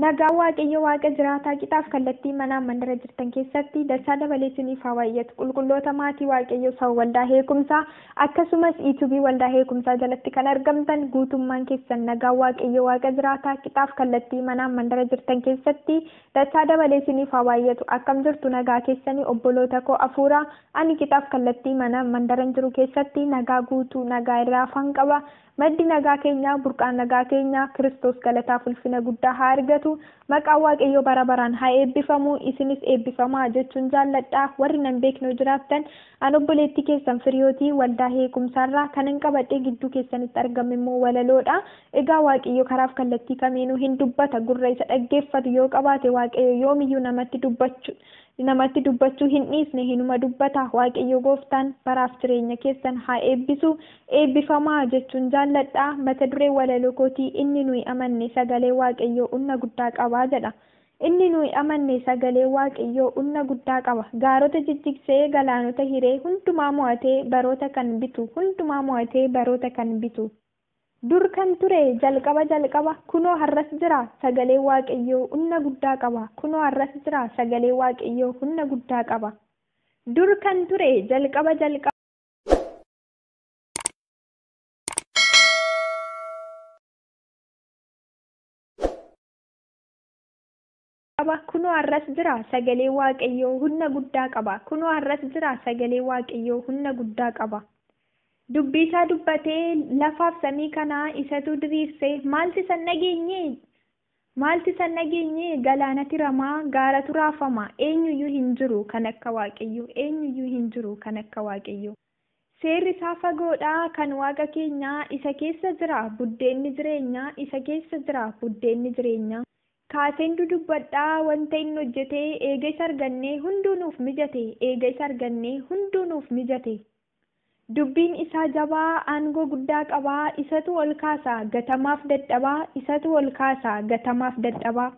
Nagaan Waaqayyo Waaqa jiraataa qixaaf kallattii manaa mandara jirtan keessatti dachaa dabalee isiniif haa baay'atu. Qulqulloota maatii Waaqayyoo saba waldaa heekumsaa akkasumas iituubii waldaa heekumsaa jalatti kan argamtan guutummaan keessan nagaan Waaqayyo Waaqa jiraataa qixaaf kallattii manaa mandara jirtan keessatti Dachaa dabalee isiniif haa baayyatu. Akkam jirtu nagaa keessanii obboloota koo afuuraa? Ani qixaaf kallattii mana, mandaran jiru keessatti nagaa guutuu, nagaa irraa hafaan qaba. Maddi nagaa keenyaa, burqaan nagaa keenyaa, Kiristoos galataaf ulfina guddaa haa argatu. Maqaan Waaqayyoo bara baraan haa eebbifamu. Isinis eebbifamaa jechuun jaalladha. Warri nan beekne yoo jiraattan, An obboleettii keessan Firiyooti, waldaa Heekumsaa irraa. Kanan qabadhee gidduu keessanitti argame immoo walaloo dha. Egaa Waaqayyo karaaf kallattii kamiinuu hin dubbata. Gurra isa dhaggeeffatu yoo qabaate Waaqayyo yoomiyyuu namatti dubbachu namatti dubbachuu hin dhiisne hinuma dubbata. Waaqayyo gooftaan baraaf jireenya keessan haa eebbisu. Eebbifamaa! jechuun jaalladha. Mata dureen walaloo kootii Inni Nuyi Amanne Sagalee Waaqayyoo Unna Guddaa Qaba jedha. Inni nuyi amanne sagalee Waaqayyoo unna guddaa qaba, gaarota jijjigsee, galaanota hiree, hundumaa mo'atee, baroota kan bitu, hundumaa mo'atee, baroota kan bitu. Dur kan ture, jalqaba jalqaba, kunoo har'as jira, sagalee Waaqayyoo unna guddaa qaba, kunoo har'as jira, sagalee Waaqayyoo hunna guddaa qaba. Dur kan ture, jalqaba jalqaba. qaba, kunoo har'as jira, sagalee Waaqayyoo hunna guddaa qaba, kunoo har'as jira, sagalee Waaqayyoo hunna guddaa qaba. Dubbii isaa dubbatee, lafaaf samii kana isatu diriirse, maalti isa hin dhageenye? Maalti isa hin dhageenye? Galaanati rama, gaaratu raafama, eenyuyyuu hin jiru kan akka Waaqayyoo, eenyuyyuu hin jiru kan akka Waaqayyoo. Seerri isaa fagoo dha, kan Waaqa keenyaa, isa keessa jira buddeenni jireenyaa, isa keessa jira buddeenni jireenyaa. Kaaseen dudubbadha, wanta inni hojjete, eega isa argannee, hunduu nuuf mijate, eega isa argannee, hunduu nuuf mijate. Dubbiin isaa jabaa, aangoo guddaa qaba, isatu ol kaasa, gatamaaf dadhabaa, isatu ol kaasa, gatamaaf dadhabaa.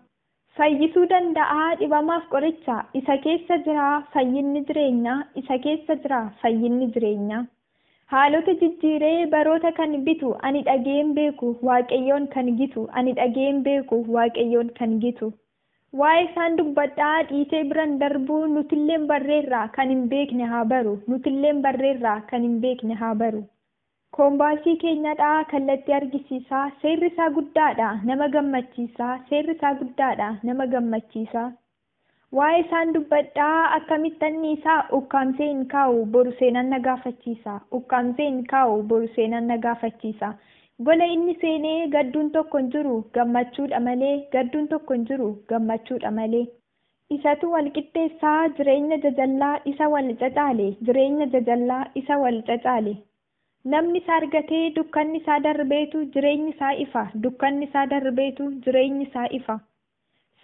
Fayyisuu danda'a Dhibamaaf qoricha Isa keessa jira fayyinni jireenya Isa keessa jira fayyinni jireenya Haalota jijjiiree baroota kan bitu Ani dhaga'een beeku Waaqayyoon kan gitu Ani dhaga'een beeku Waaqayyoon kan gitu Waa'ee isaan dubbadha dhiitee biran darbu Nutilleen barreerra kan hin beekne haa baru Nutilleen barreerra kan hin beekne haa baru. Koombaasii keenya dha'aa kallattii argisiisa, Seerri isaa guddaa dha, nama gammachiisa, Seerri isaa guddaa dha, nama gammachiisa. Waa'ee isaan dubbadha, Akkamittan dhiisa? Ukkaamsee hin kaa'u, Boru seenaan na gaafachiisa, Ukkaamsee hin kaa'u, Boru seenaan na gaafachiisa. Gola inni seenee, Gadduun tokko hin jiru, Gammachuu dha malee, Gadduun tokko hin jiru, Gammachuu dha malee. Isatu wal qixxeessa jireenya jajallaa isa wal cacaale jireenya jajallaa isa wal cacaale Namni isa argatee dukkanni isaa darbeetu jireenyi isaa ifa dukkanni isaa darbeetu jireenyi isaa ifa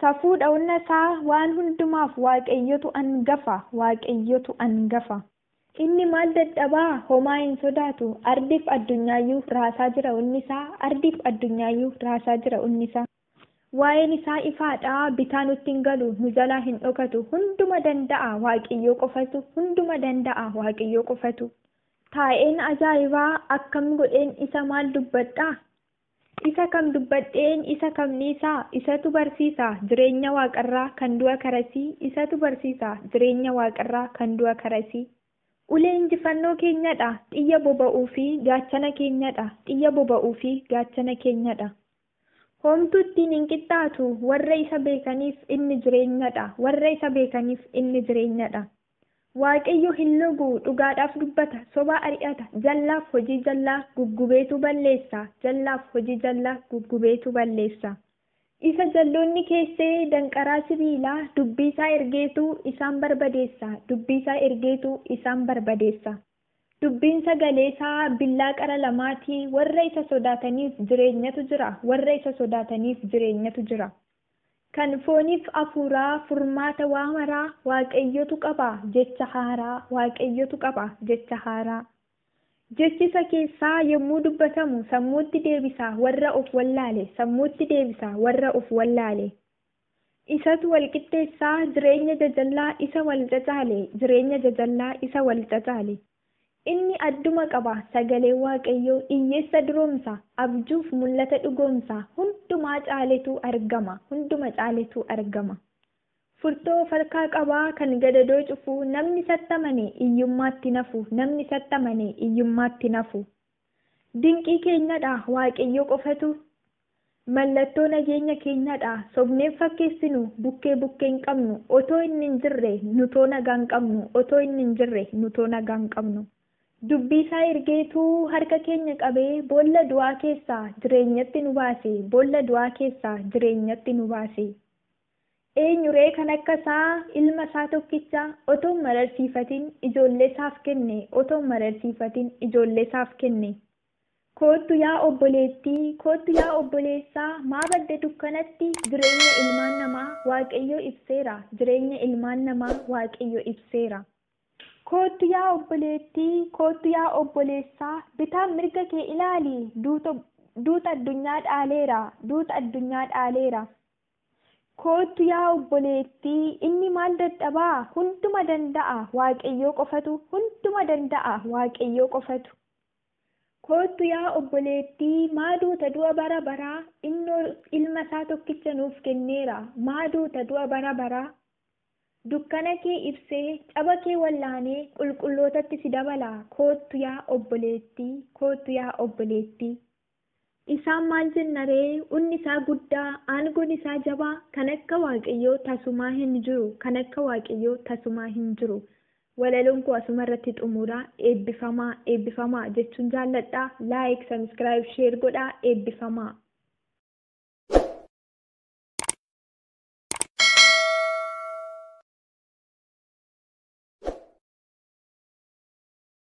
Safuudha onna isaa waan hundumaaf Waaqayyotu angafa Waaqayyotu angafa Inni maal dadhabaa homaa hin sodaatu Ardiif addunyaayyuu raasaa jira onni isaa Ardiif addunyaayyuu raasaa jira onni isaa. Waa'een isaa ifaa dha, bitaa nutti hin galu, nu jalaa hin dhokatu, hunduma danda'a Waaqiyyoo qofatu, hunduma danda'a Waaqiyyoo qofatu. Taa'een ajaa'ibaa akkam godheen isa maal dubbadhaa? Isa kam dubbadheen isa kam dhiisaa? Isatu barsiisa jireenya waaqarraa kan du'a karasii, isatu barsiisa jireenya waaqarraa kan du'a karasii. Ulee injifannoo keenya dha, xiyya boba'uu fi gaachana keenya dha, xiyya boba'uu fi gaachana keenya dha. Homtuu ittiin hin qixxaatu, warra isa beekaniif inni jireenya dha, warra isa beekaniif inni jireenya dha. Waaqayyo hin logu, dhugaadhaaf dubbata, soba ari'ata, jallaaf hojii jallaa guggubeetu balleessa, jallaaf hojii jallaa guggubeetu balleessa. Isa jalloonni keesse danqaraa sibiilaa, dubbii isaa ergeetu isaan barbadeessa, dubbii isaa ergeetu isaan barbadeessa. Dubbiin sagalee isaa billaa qara lamaa ti, warra isa sodaataniif jireenyatu jira, warra isa sodaataniif jireenyatu jira. Kan fooniif hafuuraa furmaata waa maraa Waaqayyotu qaba, jecha haaraa, Waaqayyotu qaba, jecha haaraa. Jechi isa keessaa yommuu dubbatamu sammuutti deebisa warra of wallaale, sammuutti deebisa warra of wallaale. Isatu wal qixxeessa jireenya jajallaa isa wal cacaale jireenya jajallaa isa wal cacaale. Inni adduma qaba sagalee waaqayyoo iyyeessa duroomsa abjuuf mul'ata dhugoomsa hundumaa caaletu argama hunduma caaletu argama. Furtoo of harkaa qaba kan gadadoo cufu namni isatti amane iyyummaatti hin hafu namni isatti amane iyyummaatti hin hafu. Dinqii keenyadha waaqayyo qofatu. Mallattoo nageenya keenyaa dha. Sobnee hin fakkeessinu, bukkee bukkee hin qabnu. Otoo inni hin jirre, nutoo nagaa hin qabnu, otoo inni hin jirre, nutoo nagaa hin qabnu. Dubbii isaa ergeetu harka keenya qabee, boolla du'aa keessaa jireenyatti nu baase, boolla du'aa keessaa jireenyatti nu baase. Eenyu ree kan akka isaa, ilma isaa tokkicha, otoo hin mararsiifatin, ijoollee isaaf kenne, otoo hin mararsiifatin, ijoollee isaaf kenne. Koottu yaa obboleettii, koottu yaa obboleessaa, maa badde dukkanatti? Jireenya ilmaan namaa Waaqayyo ibseera, jireenya ilmaan namaa Waaqayyo ibseera. Koottu yaa obboleettii, koottu yaa obboleessaa, bitaaf mirga kee ilaali, duuta, duuta addunyaa dhaaleera, duuta addunyaa dhaaleera. Koottu yaa obboleettii, inni maal dadhabaa? Hunduma danda'a, Waaqayyoo qofatu, hunduma danda'a, Waaqayyoo qofatu. Koottu yaa obboleettii, maa duuta du'a bara baraa, innoo Ilma isaa tokkicha nuuf kenneera, maa duuta du'a bara baraa? Dukkana kee ibsee, caba kee wal'aanee, qulqullootatti si dabala, koottu yaa obboleettii, koottu yaa obboleettii. Isaan maal jenna ree? Unni isaa guddaa, aangoon isaa jabaa, kan akka Waaqayyoo tasumaa hin jiru, kan akka Waaqayyoo tasumaa hin jiru. Walaloon koo asuma irratti xumuura. Eebbifamaa, eebbifamaa jechuun jaalladha. Like, subscribe, share godhaa. Eebbifamaa.